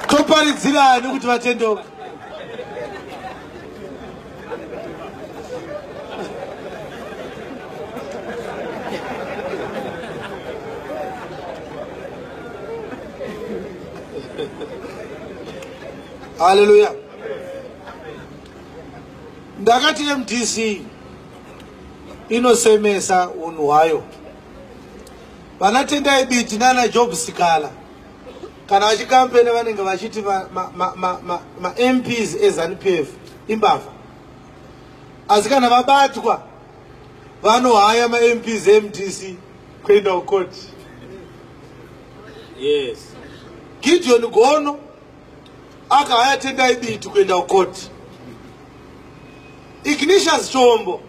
toparidzira ani kuti vatendeuke haleluya ndakati mdc inosemesa unhu hwayo vanatendai biti nana job sikala kana vachikampena vanenge vachiti mamps ezanupf imbavha asi kana vabatwa vanohaya mamps emdc kuenda kukoti yes gideon gono akahaya tendai biti kuenda kukoti ignitious chombo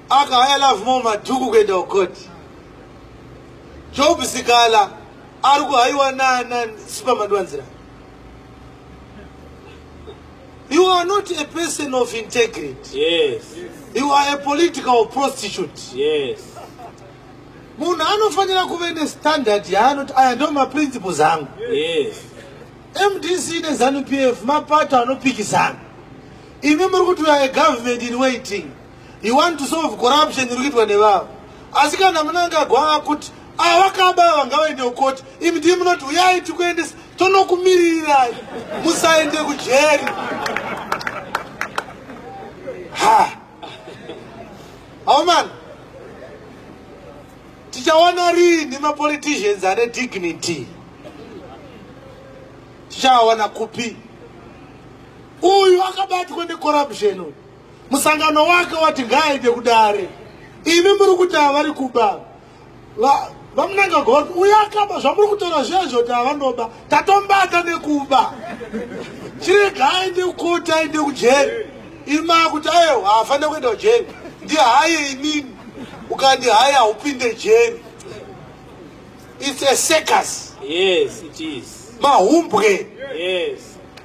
aka haya love more madhuku kuenda kukoti job sikala ari kuhaiwa nana sipamadwanzira you are not a person of integrity yes. you are a political prostitute yes. munhu anofanira kuve nestandard yaanoti aya ndo maprinciples angu yes. mdc nezanu p f mapato anopikisana Imi muri kuti uya government in waiting. You want to solve corruption iri kuitwa nevavo. Asi kana munangagwa akuti avakaba ah, vangawaende kukoti imi ndii munoti uyai tikuendesa tonokumirirai musaende kujeri ha aumana tichawana riini mapoliticians ane dignity tichawana kupi uyu akabatwa necorruption uyu musangano wake wati ngaaende kudare imi muri kuti havari kuba vamunanga goti uyo akaba zvamuri kutora zvezvo ti havanoba tatombata nekuba chirega aende kukoti aende kujeri imi maakuti ayo haafanire kuenda kujeri ndihaye inini ukandihaye haupinde jeri its a circus yes it is mahumbwe yes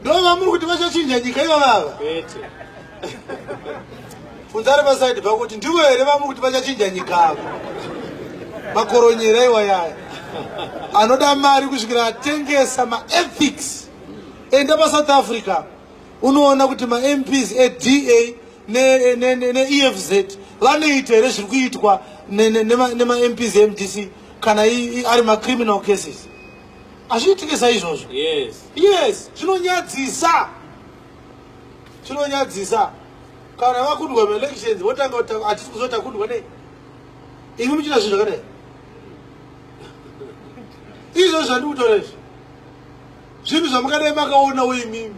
ndova muri kuti vachachinja nyika iva vava funzari pasaidi pako kuti ndivo here vamuri kuti vachachinja nyika ava makoronyera iwa yaya anoda mari kusvikira atengesa maethics enda pasouth africa unoona kuti mamps eda neefz ne, ne, ne vanoita here zviri kuitwa nemamps ne, ne, ne emdc kana ari macriminal cases hazviitike saizvozvo yes yes zvinonyadzisa zvinonyadzisa kana vakundwa maelections votanga kuti hatisi kuziva takundwa nei imi muchita zvinhu zvakadai izvo zvandikutora izvi zvinhu zvamungadai makaona uimimi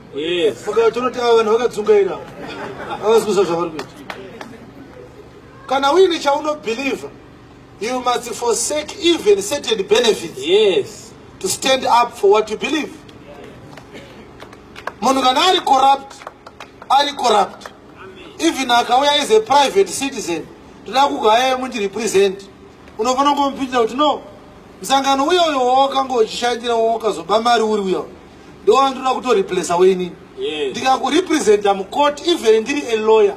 makatonoti ava vanhu vakadzungaira avasi kuziva zvavari kuita kana uine chaunobhilivha You must forsake even certain benefits. Yes. To stand up for what you believe. Munhu kana ari corrupt, ari corrupt. Even akauya is a private citizen. Toda kugaya mundi represent. Unofanira kumupindira kuti no. Msangano uyo uyo wawakango uchishandira wawakazoba mari uri uyo. Ndiwo wandinoda kuto replace wenini. Yes. Ndikakurepresenta mukoti even ndiri a lawyer.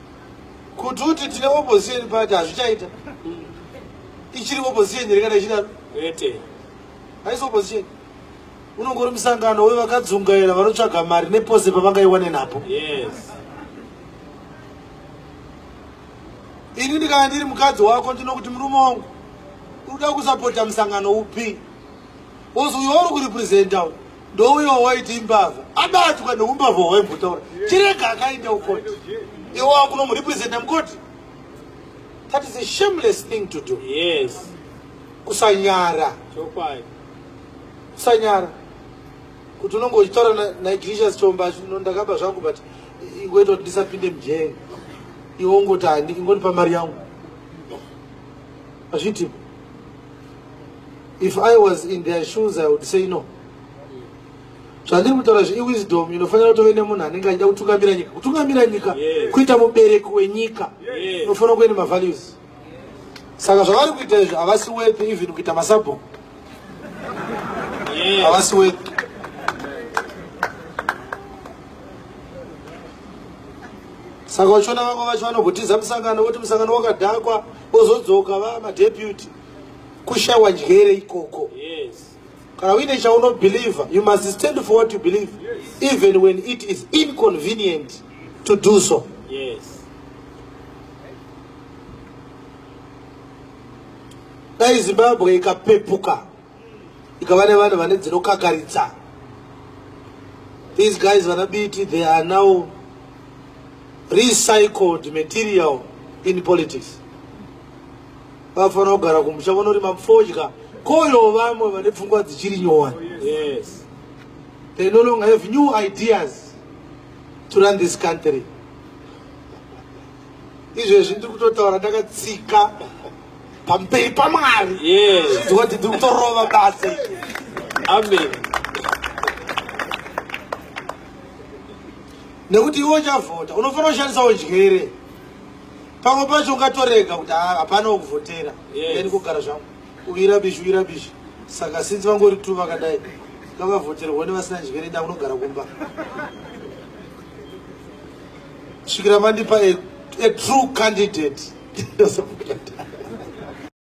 kuti uti tine opposition party hazvichaita ichiri opposition here kana ichidaro ete haisi opposition unongori musangano wevakadzungaira vanotsvaga mari nepose pavangaiwane napo yes ini ndikana ndiri mukadzi wako ndinokuti murume wangu uda kusapota musangano upi ozi uyo uri kurepresenta ndouyo waiti imbavha abatwa neumbavha hwaimbotaura chirega akaenda ukoti iwe wakunomurepresenta mukoti that is a shameless thing to do yes kusanyara kusanyara kuti unonge uchitaura naigricious chomba no ndakaba zvangu but iweta kuti ndisapinde mujee iwe ungoti handiki ngonipa mari yangu azviitipo if i was in their shoes i would say no zvandiri kutaura zve iwisdom inofanira kutove nemunhu anenge achida kutungamira nyika kutungamira nyika kuita mubereki wenyika unofanira kuve nemavalues saka zvavari kuita izvi havasi wepi even kuita masabhongo havasi wepi saka uchiona vamwe vacho vanogotiza musangano voti musangano wakadhakwa ozodzoka va madeputy kushawa njere ikoko yes. kana uine chaunobelieve you must stand for what you believe yes. even when it is inconvenient to do so yes. dai zimbabwe ikapepuka ikava nevanhu vane dzinokakaritsa these guys vana biti they are now recycled material in politics vafanira kugara kumusha vonorima mfodya koyo vamwe vane pfungwa dzichiri nyowani yes. they no longer have new ideas to run this country izvezvi ndiri kutotaura ndakatsika pamberi pamwari zvinziwa kuti ndiri kutorova basa amen nekuti iwe uchavhota unofanira kushandisa udyere pamwe pacho ungatorega kuti ah, hapana wekuvhotera eni kugara zvangu uyira bishi uyira bishi saka sinzi vangori tu vakadai ngavavhoterwa nevasina njere ndakunogara kumba kusvikira vandipa a, a true candidate